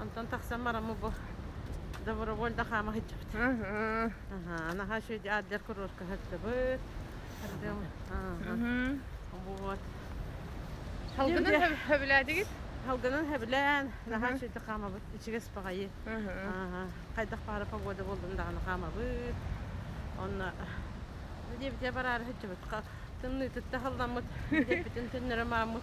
Онтон тахсан бараммы бу добровольно хаама сылдьабыт. Наһаа үчүгэй аддер куруорка сылдьабыт. Вот. Халгынан хөбүлээтигит? Халгынан хөбүлээн, наһаа үчүгэй хаамабыт, ичигэс паҕайы. Хайдах баара погода болдун даҕаны хаамабыт. Онно диэбитэ бараары сылдьабыт. Тымныы тытта халламмыт, диэппитин төннөрө мааммыт.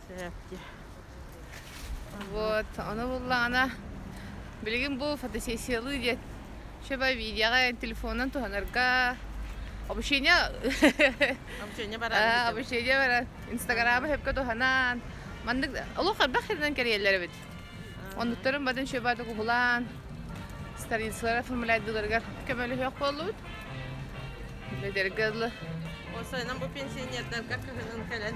Вот, ону буллаҕына, билигин бу фотосессиялыы диэн шеба видеоҕа телефонунан туһанарга обучение обучение баран обучение баран инстаграма сөпкө туһанан маннык олох элбэх херинэн кэриэллэр эбит оннуктарын бадын шебаты кубулаан старинсылар оформляйдыларыгар көмөлөһүөх буоллубут билетэрге ылы ол сайынан бу пенсионердарга кыһынын кэлэн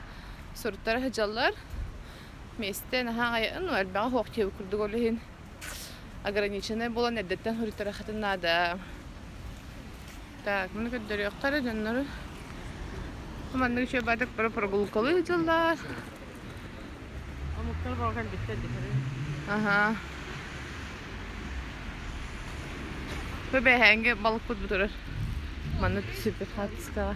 соруктара сыдьаллар миэстэ наһаа айын элбэҕи хоохтиябы курдук ол иһин ограниченный буолан эрдэттэн суруттара хатын наада так муну көрдөрүөхтара дьоннору хоманнык еще бардак про прогулкалыы дьыллар омуктар болган биттер дитэрин аха Бэбэһэҥге балыкпыт бутурар. Манна түсүппүт хатска.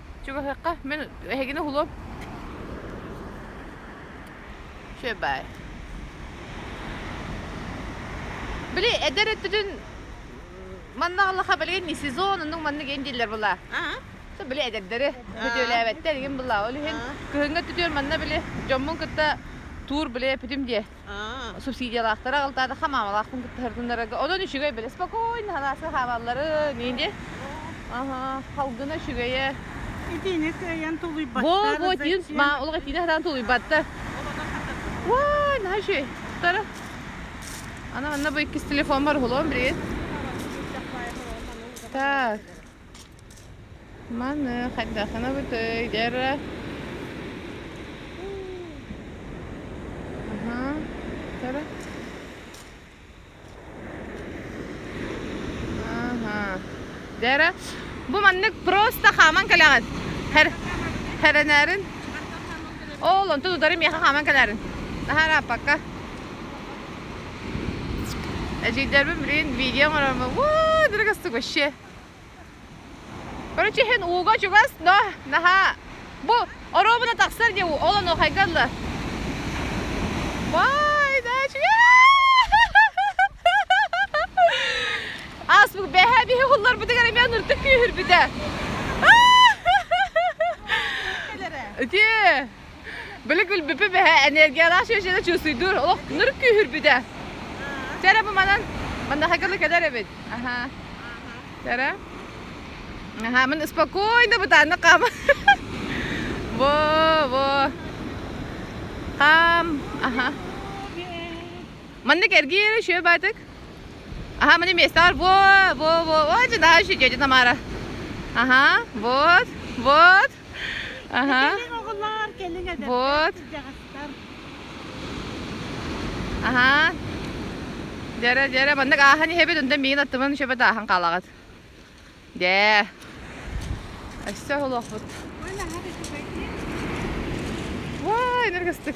Чугаһыахха, мин эһигини уһулуом. Шөп бай. Били эдер өттүтүн манна аллаха билген не сезон оннук манна ген дииллэр була. Со били эдердери бүтүөлээбэттэ эргин була. Ол иһин кыһыҥҥа түтүөр манна били дьоммун кытта туур биле бүтүм диэ. субсидиялаахтара алтаатахха маамалаахпын кытта сырытыннарарга онон үчүгэй били спокойно халааска хаалалларын инде аха халгына үчүгэйэ итиини кыайан тулуйбаттар бу итиин ма олох итиини хатаан тулуйбаттар ой наһаа үчүгэй тара ана манна бу иккис телефон бар холон билигин так Маны хайдаханабытый дьара Ага тара Ага дьара бу маннык просто хааман кэлэҕин хэр хэрэнээрин ол онту тутары миэхэ хааман кэлээрин наһарааппакка эдьиийдэрбин билигин видео оҥорормун уу дорогостук вообще Короче, иһин ууга чугас, но наһаа бу оруобуна тахсар дии ол онуохайга ылла. Вай, дачи! Аспыт бэһэ биһи хулларбытыгар эмиэ ныртык күүһүрбүтэ. Үтүө! Били күлбүппү бэһэ энергия ара шөшене чусуйдур, олох ныр күүһүрбүтэ. Сэрэ бу манан маннахакылы кэдэр эбит. Аха. Сэрэ. Аха, мин спокойно бытанны кам. Во, во. Кам. Аха. Манны кэргиэре шөө баатык. Аха, мани местар во, во, во. О, жена еще тетя Тамара. Ага, вот, вот. Аха. Оҕолоор, кэлин эдэрдэр, дьахтар. Аха. Дьара, дьара, маннык аахан иһэбит, өндөм миин аттымын шөбөт аахан хаалаҕыт. Дьэ. Өссө холуохпут. Ой, энергостык.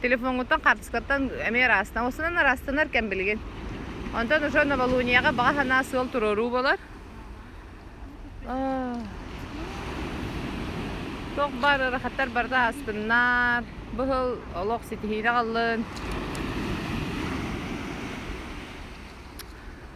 телефоҥҥуттан хаартыскаттан эмиэ ыраастанар. Осунан ыраастанар кэм билигин. Онтон уже новолунияҕа баҕа санаа сыал туруоруу болар. Туох бар ырахаттар барыта астыннар. Быһыл олох ситиһиини аҕаллын.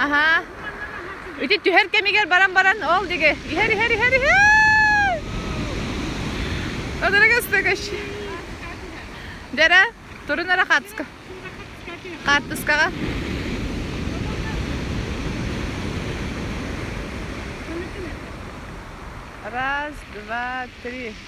Аха. Ити түһэр кэмигэр баран баран ол диги. Иһэр иһэр иһэр иһэр. Одорога стакаш. Дера, турun ara қатска. Қаттыскаға. Раз, два, три.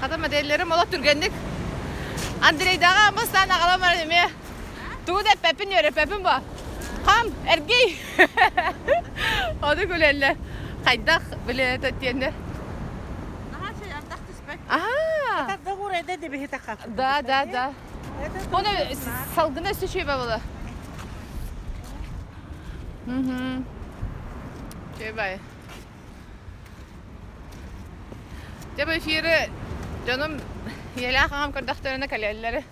Хата модельлерим олох түргэнник. Андрейдаҕа амыстаан аҕалам баран эмиэ тугу да эппэппин үөрэппэппин бо. Хам, эргий. Ону күлэллэр. Хайдах билет диэннэр. Наһаа чэй ардах түспэт. Аhaa. Это договор это дебихи така. Да, да, да. Оны салгына үсті шөбе болы. Угу. Шөбе. Дьэ, бу эфири дьонум ийэлээх аҕам көрдөхтөрүнэ кэлэллэрэ.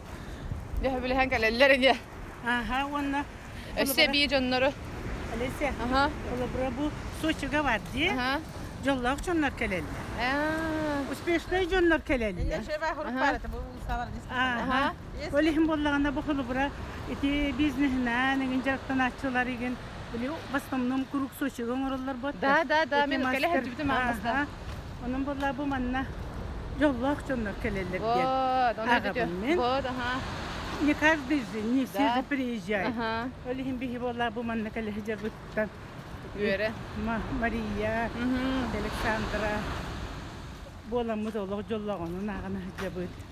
Дөһөбүлэһэн кэлэллэрэ диye. Ага, уонна Өссө эбии дьоннору. Олеся, Аха. холобура бу Сочига бар дии. Аха. Дьоллоох дьоннор кэлэллэр. Ээ. Успешнай дьоннор кэлэллэр. Ага. Ол иһин буоллаҕына бу холобура ити бизнеһинэн, эҥин дьарыктанааччылар игин Били в основном куруук Сочига оҥороллорбут. Да, да, да, мен үлкэлэһэн түбүтүм аҥасда. Онон буолла бу манна дьоллоох дьоннор кэлэллэр диэн. Вот, ону бүтү. Вот, аха. Не каждый же, не все же приезжают. Олихин биһи буолла бу манна кэлэһи дьабыттан. Үөрэ. Мария, Александра. Буоламмыт олох дьоллоҕонун ааҕына дьабыт.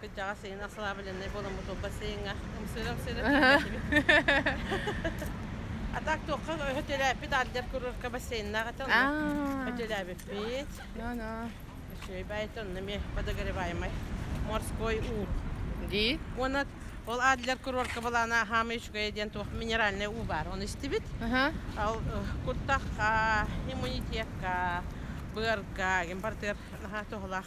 Кырдьаҕас сайын осслабленнай буоламмыт ылбат сайыҥҥа ымсыыра-ымсыыра тиийбэтибит. А так туохха өтөлөөппүт ардыгар курорка бассейннаах этэ онно өтөлөөбүппүт. Үчүгэй баайыта онно эмиэ подогреваемай морской уу. Дии. Уонна ол аадылар курорка балаана хаамай үчүгэй диэн туох минеральный уу баар оны истибит. Ал куртах иммунитетка быарга импортер наһаа тоһулаах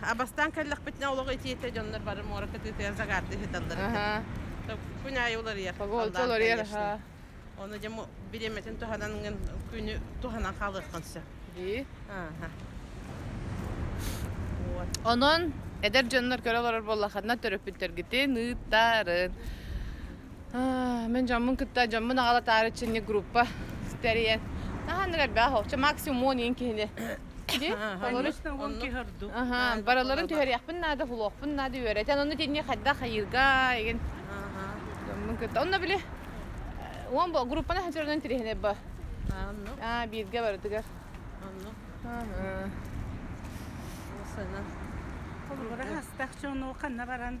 Абастан кэллэхпитинэ олох итиэтэ дьоннор бары муоракка тыытыгар загарты ыһыталлар. Күн аайы уларыйар. Погода уларыйар, аха. Оны дьэ бириэмэтин туһанан күнү туһанан хаалыаххын сөп. Дии. Онон эдэр дьоннор көрө олорор буоллаххытына төрөппүттэргитин ыыттарын. Мен жаммын кытта жаммын агалатаары чинник группа стериен. Таһаныр эрбэх, максимум он киһини Дии? Олорус Онно киһи ордук аһаан, барыларын түһэриэхпин наада, уһулуохпун наада үөрэтэн, ону итинник хайдах хайыырга игин дьоммун кытта. Онно били уон группаны хатырынан тириһинэр ба. Анну. Аа, бииргэ барытыгар. Анну. Сынан. Олбура хастах чону ханна баран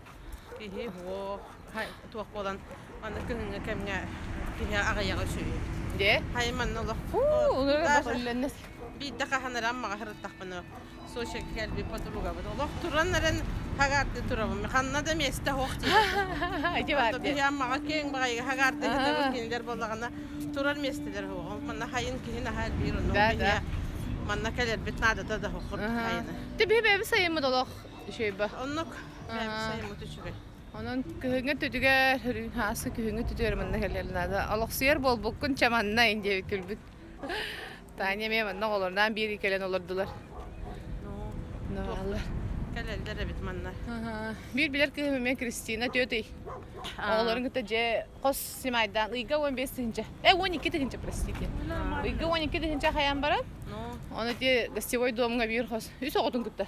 Иһи-уо, туох буолан манна күһүҥҥү кэмҥэ киһи аҕыйаҕа үсүһү. Дьэ? Хайа манна олох биирдэ хаһан эрэ аммаҕа ырыттахпына Сочига кэлбит подругабыт олох туран эрэн хагаарды турабын ханна да месте суох диэбит биһи аммаҕа киэҥ баҕайы хагаардыһытабын кинилэр буоллаҕына турар миэстэлэр суох манна хайын киһи наһаа элбиир онно манна кэлэрбит наадата да хохор хайаны. Ти бэйбэби сайыммыт олох Үшейба. Оннук. Сайымыт үчүгэй. Онон күһүҥҥү түтүгэр үрүн хаасы күһүҥҥү түтүгэр манна кэлэр наада. Олохсуйар буолбуккун чаманна инде күлбүт. Таня мен манна оҕолорнаан биир кэлэн олордулар. Нолар. Кэлэлдер эбит манна. Биир билер кыһым мен Кристина тетей. Оҕолорун кытта дьэ хос симайдаан ыйга 15 тыһынча. Э 12 тыһынча простите. Ыйга 12 тыһынча хаян баран. Оны те гостевой домга биир хос. Үс оҕотун кытта.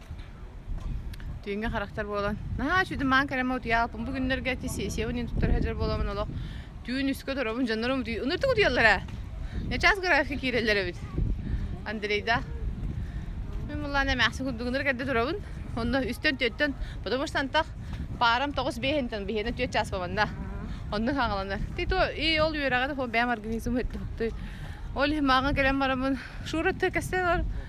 Түүҥҥэ характер буолан, наһаа сүдүмаан кэрэмэ утуйаалпын бу күннэргэ ити сессиябын ин туттара сылдьар буоламмын олох түүн үскэ торобун дьоннорум утуй ыныртык утуйаллара ньачаас графика киирэллэр эбит Андрейда мин муллаан эмээхсин курдугунар кэрде турабын онно үстэн түөттөн потому что антах парам тоҕус биэһинтэн биһиэнэ түөрт чаас баманна онну хаҥаланар ты то и ол үөрэҕи бэйэм организм өттү ол имаҕа кэлэн барамын шура кэстен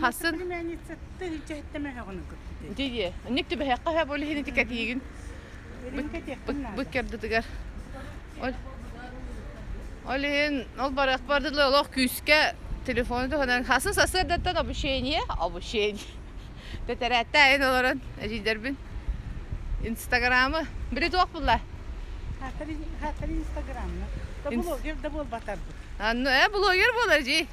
Хасын. Дии. Инник түбэһэххэ һэ бу лиһини тикэтиигин. Быт кердытыгар. Ол иһин ол барах бардылы олох күүскэ телефону туһанан хасын сассыардаттан обучение, обучение. Тэтэрэтте айын олорон эдьиидэрбин Инстаграмы били туох булла? Хаттар Инстаграмны. Да блогер да буолбатарбыт. Анну э блогер болар жи.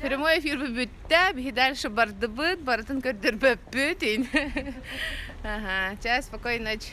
прямой эфир бүттэ биһи дальше бардыбыт барытын көрдөрбөппүт ин чай спокойной ночь